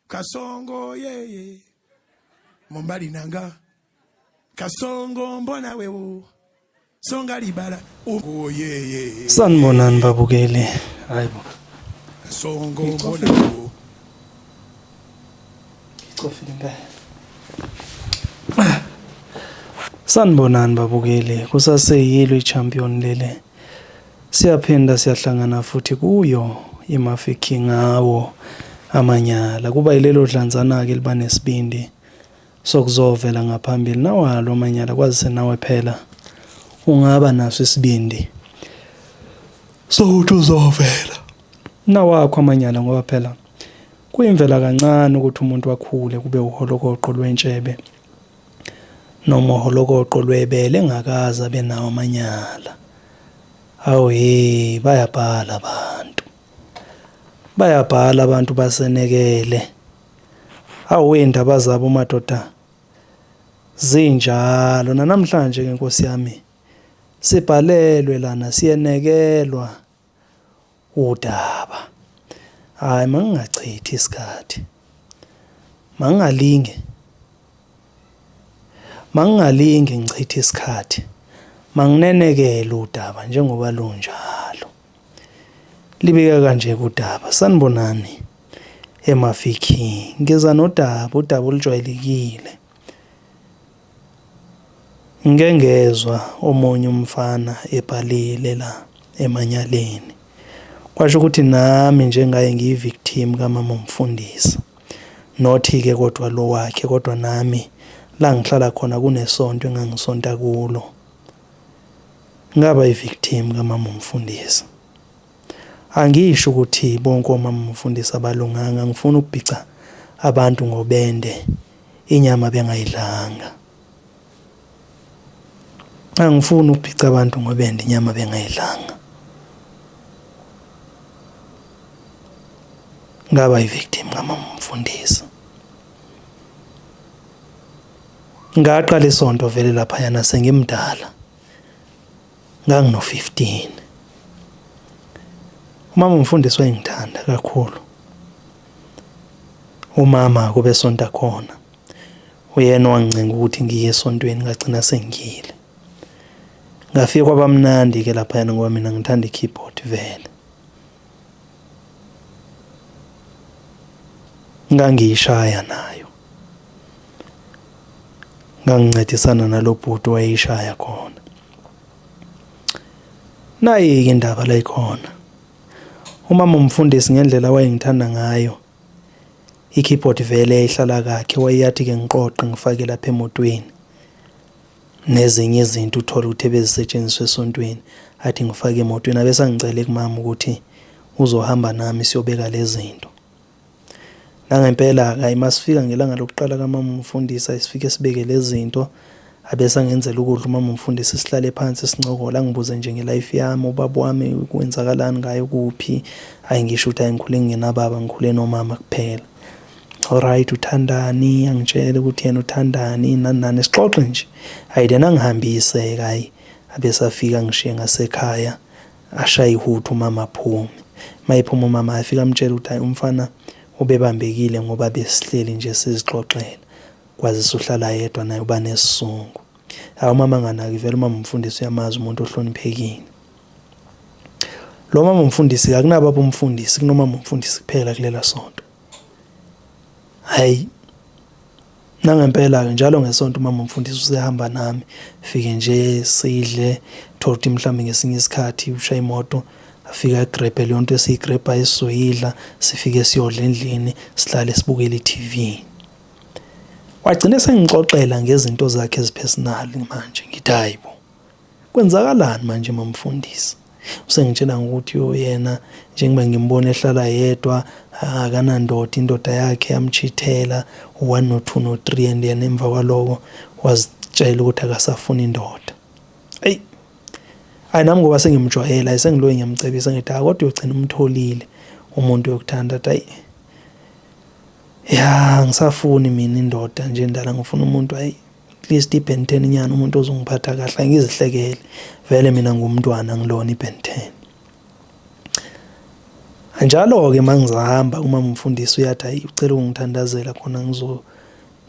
kasongo yeye mombali nanga kasongo mbona wewo songa libala oh yeye sanibonani babukeli hayibo kasongo mbona wewo ngicofile ngeke sanibonani babukeli kusaseyilo i-champion lele Siyaphinda siyahlangana futhi kuyo iMafikhi ngawo amanyala. Kuba yilelo dlanzana-ke liba nesibindi sokuzovela ngaphambili nawalo amanyala kwazise nawe phela ungaba naso isibindi sokuthi uzovela nawakho amanyala ngoba phela kuyimvela kancane ukuthi umuntu akhule kube uholokoqo lwentshebe nomoholokoqo lwebele engakaze abe nawo amanyala awu he bayabhala abantu bayabhala abantu basenekele awu indaba zabo madoda zinjalo nanamhlanje ke nkosi yami sibhalelwe lana siyenekelwa udaba. Hhayi mangingachithi isikhathi. Mangingalinge mangingalinge ngichithe isikhathi. Manginenekele udaba njengoba lunjalo. Libika kanje kudaba. Sanibonani eMafikhi. Ngeza nodaba, udaba olujwayelekile. Ngike ngezwa omunye umfana ebhalile la emanyaleni. Kwasho ukuthi nami nje ngaye ngiyi-victim kamama umfundisi. Not-ke kodwa lo wakhe kodwa nami la ngihlala khona kunesonto engangisonta kulo. Ngaba yi-victim kamama umfundisi. Angisho ukuthi bonke omamamfundisi abalunganga ngifuna ukubhica abantu ngobende inyama bengayidlanga. Angifuni ukubhica abantu ngobende inyama bengayidlanga. Ngaba yivictim ngamamfundisi. Ngaqala isonto vele lapha yana sengimdala. Ngangino-15. Umama umfundisi wayengithanda kakhulu. Umama kube sonta khona. Uyena owangincenga ukuthi ngiye esontweni ngagcina sengiyile. Ngafike kwabamnandi ke lapha yana ngoba mina ngithanda i-keyboard vele. Ngangiyishaya nayo. Ngangincedisana nalobhuti wayishaya khona. Nayi-ke indaba la ikhona. Umama umfundisi ngendlela wayengithanda ngayo i-keyboard vele yayihlala kakhe wayeyathi-ke ngiqoqe ngifake lapha emotweni nezinye izinto uthole ukuthi ebezisetshenziswa esontweni athi ngifake emotweni abesangicele kumama ukuthi uzohamba nami siyobeka lezi zinto Nangempela-ke hhayi uma sifika ngelanga lokuqala kamama umfundisi ayisifike sibeke lezi zinto abese angenzela ukudla umama umfundisi sihlale phansi sincokola angibuze nje ngelife yami ubaba wami kwenzakalani ngaye kuphi ayi ngisho ukuthi angikhule ngingenababa ngikhule nomama kuphela alright uthandani angitshele ukuthi yena uthandani nani nani sixoxe nje hayi lena ngihambise-ke hhayi abesafika ngishiye ngasekhaya Ashaye ihuthu umama aphume. Mayephuma umama afika amtshela ukuthi hayi umfana ubebambekile ngoba besihleli nje sizixoxela kwazise uhlala yedwa naye uba nesizungu hawu umama anganaki vele umama umfundisi uyamazi umuntu ohloniphekile lo mama umfundisi akunababa umfundisi kunomama umfundisi kuphela kulela sonto hayi Nangempela-ke njalo ngesonto umama mfundisi usehamba nami fike nje sidle tholuthi mhlawumbe ngesinye isikhathi usha imoto afike agrebhe leyo nto esiyigrebha esizoyidla sifike siyodla endlini sihlale sibukele i-tv wagcine sengixoxela ngezinto zakhe ezipersonal manje ngithi hayi bo Kwenzakalani manje mamfundisi? Usengitshela ngokuthi uyena njengoba ngimbona ehlala yedwa akanandoda indoda yakhe yamchithela one no two no three and yena emva kwaloko wazitshela ukuthi akasafuni indoda. Eyi hayi nami ngoba sengimjwayela hayi sengiloyi ngiyamcebisa ngithi hayi kodwa uyogcina umtholile umuntu yokuthanda athi hayi ya ngisafuni mina indoda nje ndala ngifuna umuntu hayi at least iBen 10 nyana umuntu ozongiphatha kahle ngizihlekele vele mina ngumntwana ngilona iBen 10 anjalo ke mangizahamba uma umfundisi uyathi ayi ucela ukungithandazela khona ngizo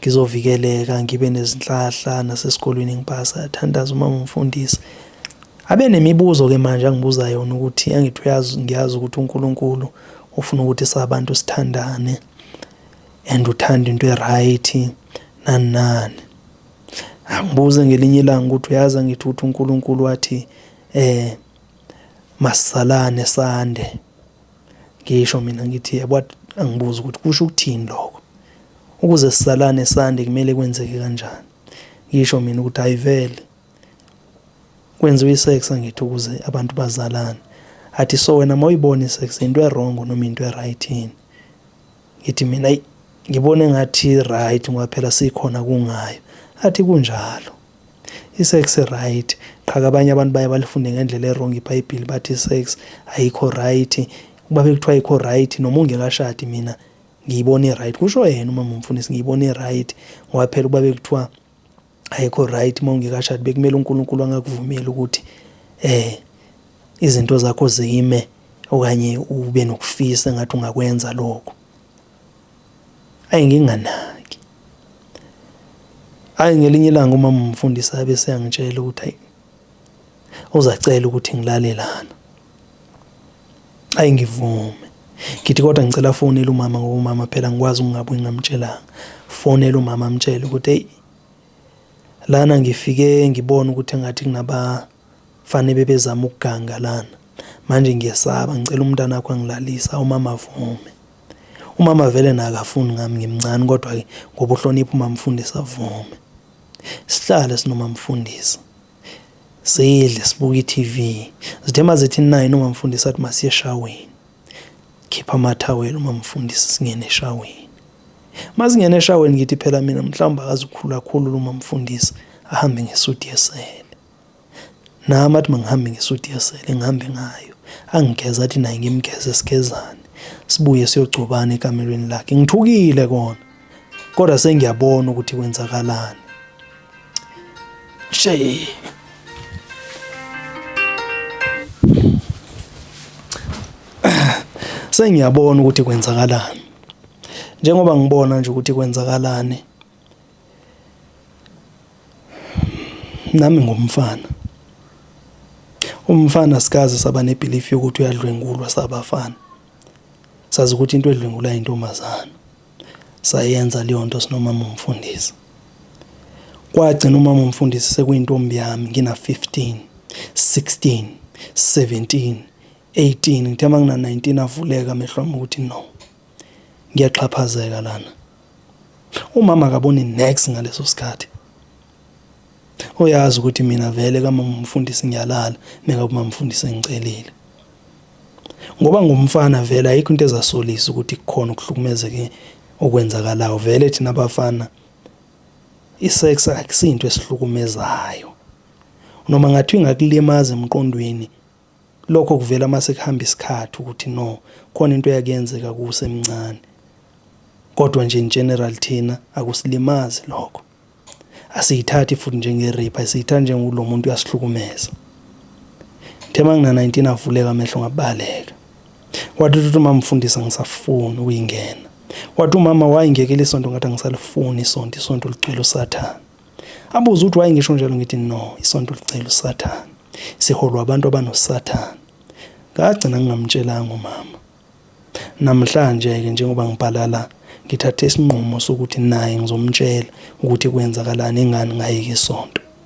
ngizovikeleka ngibe nezinhlahla nasesikolweni ngipasa yathandaza uma umfundisi abe nemibuzo ke manje angibuza yona ukuthi angithi uyazi ngiyazi ukuthi uNkulunkulu ufuna ukuthi sabantu sithandane and uthanda into e-right nani nani angibuze ngelinye ilanga ukuthi uyazi angithi ukuthi uNkulunkulu wathi eh masalane sande ngisho mina ngithi yebo angibuza ukuthi kusho ukuthini lokho ukuze sisalane sande kumele kwenzeke kanjani ngisho mina ukuthi ayivele kwenziwa isex angithi ukuze abantu bazalane athi so wena mawuyibona isex into ewrong noma into eright yini ngithi mina ayi ngibona engathi right ngoba phela sikhona kungayo athi kunjalo isex right qhaka abanye abantu baye balifunde ngendlela erong ibhayibheli bathi isex ayikho right kuba bekuthiwa ayikho right noma ungekashadi mina ngiyibona i-right kusho yena uma mfundisi ngiyibona i-right ngoba phela ukuba bekuthiwa ayikho right uma ungekashadi bekumele uNkulunkulu angakuvumeli ukuthi eh izinto zakho zime okanye ube nokufisa engathi ungakwenza lokho ayi nginganaki ayi ngelinye ilanga uma umfundisi abe seyangitshela ukuthi ayi ozacela ukuthi ngilale lana ayi ngivume ngithi kodwa ngicela afonele umama ngoba umama phela ngikwazi ukungabuyi ngamtshelanga fonele umama amtshele ukuthi eyi lana ngifike ngibona ukuthi engathi kunabafane bebezama ukuganga lana manje ngiyesaba ngicela umntana wakho angilalisa umama avume umama vele nakafuni ngami ngimncane kodwa-ke ngoba uhlonipha umamfundisi avume sihlale sinomamfundisi zidle sibuke i-TV zithe uma zithi nine umamfundisi athi masiye eshaweni khipha amathawela umamfundisi singene eshaweni uma singene eshaweni ngithi phela mina mhlawumbe akazikhulu kakhulu umamfundisi ahambe ngesuti yesele nami athi mangihambe ngesuti yesele ngihambe ngayo angigeza athi naye ngimgeze sigezane sibuye siyogcobana ekamelweni lakhe ngithukile kona kodwa sengiyabona ukuthi kwenzakalani shey sengiyabona ukuthi kwenzakalani njengoba ngibona nje ukuthi kwenzakalani nami ngumfana umfana sikaze saba nebelief yokuthi uyadlwengulwa sabafana Sazi ukuthi into edlwengula intombazana. Sayenza leyo nto sinomama umfundisi. Kwagcina umama umfundisi sekuyintombi yami ngina 15, 16, 17, 18 ngithe uma ngina 19 avuleka amehlo ami ukuthi no. Ngiyaxhaphazeka lana. Umama akaboni next ngaleso sikhathi. Uyazi ukuthi mina vele kamama umfundisi ngiyalala nekakumama umfundisi engicelile. Ngoba ngumfana vele ayikho into ezasolisa ukuthi kukhona ukuhlukumezeke okwenzakalayo vele thina abafana isex akusinto esihlukumezayo. Noma ngathi ingakulimaza emqondweni Lokho kuvela uma sekuhamba isikhathi ukuthi no khona into eyake yenzeka kusemncane. Kodwa nje in general thina akusilimazi lokho. Asiyithathi futhi njenge-rape, asiyithathi njengokuthi lo muntu uyasihlukumeza. Ngithe uma ngina-19 avuleka amehlo ngabaleka. Wathi uthi uma mfundisa ngisafuni ukuyingena. Wathi umama wayingekela isonto ngathi angisalifuni isonto, isonto ligcwele usathane. Abuze ukuthi why ngisho njalo ngithi no isonto licela usathane siholwa abantu abanosathane ngagcina ngingamtshelanga umama namhlanje ke njengoba ngibhala la ngithathe isinqumo sokuthi naye ngizomtshela ukuthi kwenzakalani ingani ngayeke isonto